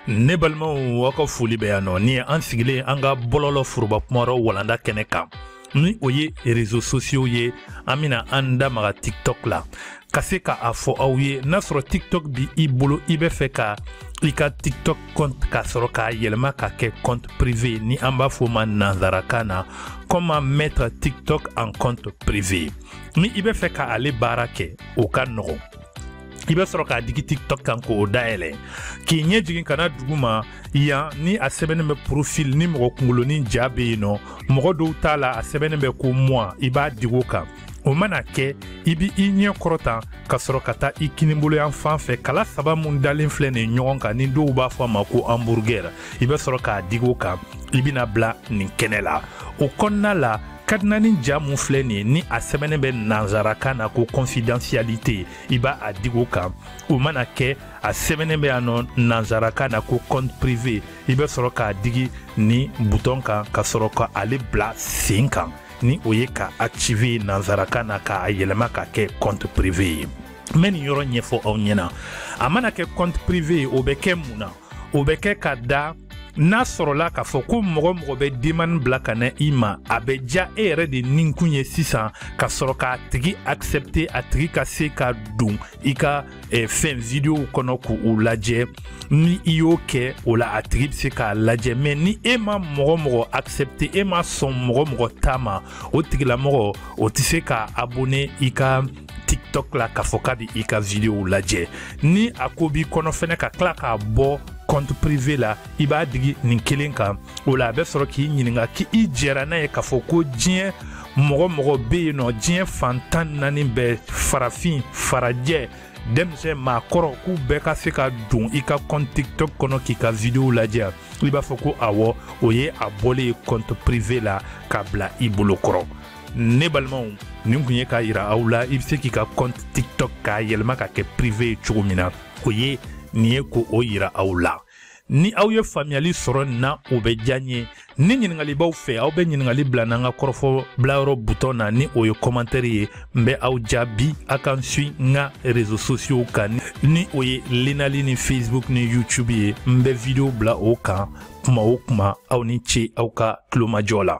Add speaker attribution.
Speaker 1: ne balimaw aw ka foli bɛ yan nɔ ni an sigilen an ka bɔlɔlɔ foroba kumayɔrɔ walanda kɛnɛ kan ni o ye rezo sosiyow ye an bɛna an da maga tiktok la ka se ka a fɔ aw ye n'a sɔrɔ tiktok bi i bolo i bɛ fɛ ka i ka tiktok compte ka sɔrɔ k'a yɛlɛma ka kɛ compte privé ni an b'a fɔ ma nanzarakan na comment mettre tiktok en compte privé ni i bɛ fɛ ka ale baara kɛ o ka nɔgɔn i bɛ sɔrɔ k'a digi tiktok kan k'o dayɛlɛ k'i ɲɛ jigin ka na duguma yan ni a sɛbɛnnen bɛ profil ni mɔgɔ kunkolonin ja bɛ yen nɔ mɔgɔ dɔw ta la a sɛbɛnnen bɛ ko moi i b'a digi o kan o mana kɛ i b' i ɲɛ kɔrɔta ka sɔrɔ ka taa i kininbolo yan fan fɛ kala saba min dalen filɛ nin ɲɔgɔn kan ni dɔw b'a fɔ a ma ko hamburger i bɛ sɔrɔ k'a digi o kan i bɛna bila nin kɛnɛ la o kɔnɔna la kadinanin ja mun filɛ nin ye ni a sɛbɛnnen bɛ nanzarakan na ko confidentialité i b'a a digi o kan o mana kɛ a sɛbɛnnen bɛ yan nɔ nanzarakan na ko compte privé i bɛ sɔrɔ k'a digi nin butɔn kan ka sɔrɔ ka ale bila sen kan ni o ye ka activer nanzarakan na k'a yɛlɛma ka kɛ compte privé ye n bɛ nin yɔrɔ ɲɛfɔ aw ɲɛna a mana kɛ compte privé ye o bɛ kɛ mun na o bɛ kɛ ka da n'a sɔrɔla k'a fɔ ko mɔgɔ o mɔgɔ bɛ demande bila ka na i ma a bɛ diya e yɛrɛ de nikun ye sisan ka sɔrɔ k'a tigi accepter a tigi ka se ka don i ka eh, fɛn videow kɔnɔ k'u u lajɛ ni i y'o kɛ o la a tigi bɛ se k'a lajɛ mais ni e ma mɔgɔ mɔgɔ accepter e ma sɔn mɔgɔ mɔgɔ ta ma o tigilamɔgɔ o tɛ se ka abonner i ka tiktok la k'a fɔ k'a bɛ i ka videow lajɛ ni a ko b'i kɔnɔ fɛnɛ ka tila k'a bɔ compte privé la i b'a digi nin kelen kan o la a bɛ sɔrɔ k'i ɲininka k'i i jɛra n'a ye k'a fɔ ko diɲɛ mɔgɔ mɔgɔ bɛ yen nɔ diɲɛ fan tan naani bɛɛ farafin farajɛ denmisɛn maakɔrɔ k'u bɛɛ ka se ka don i ka kɔnti tiktok kɔnɔ k'i ka vidiyow lajɛ i b'a fɔ ko awɔ o ye a bɔlen ye kɔnti prive la k'a bila i bolo kɔrɔ ne balimaw nin kun ye k'a yira aw la i bɛ se k'i ka kɔnti tiktok k'a yɛlɛma ka kɛ prive ye cogo min na o ye nin ye ko o yira aw la ni aw ye faamuyali sɔrɔ nin na o bɛ diya n ye ni ɲiningali b'aw fɛ aw bɛ ɲiningali bila n'an ka kɔrɔfɔ bilayɔrɔ butɔn na ni o ye kɔmantɛri ye n bɛ aw jaabi a ka n suit n ka rezo sosiyow kan ni o ye lenali ni facebook ni youtube ye n bɛ video bila o kan kuma o kuma aw ni ce aw ka tulomajɔ la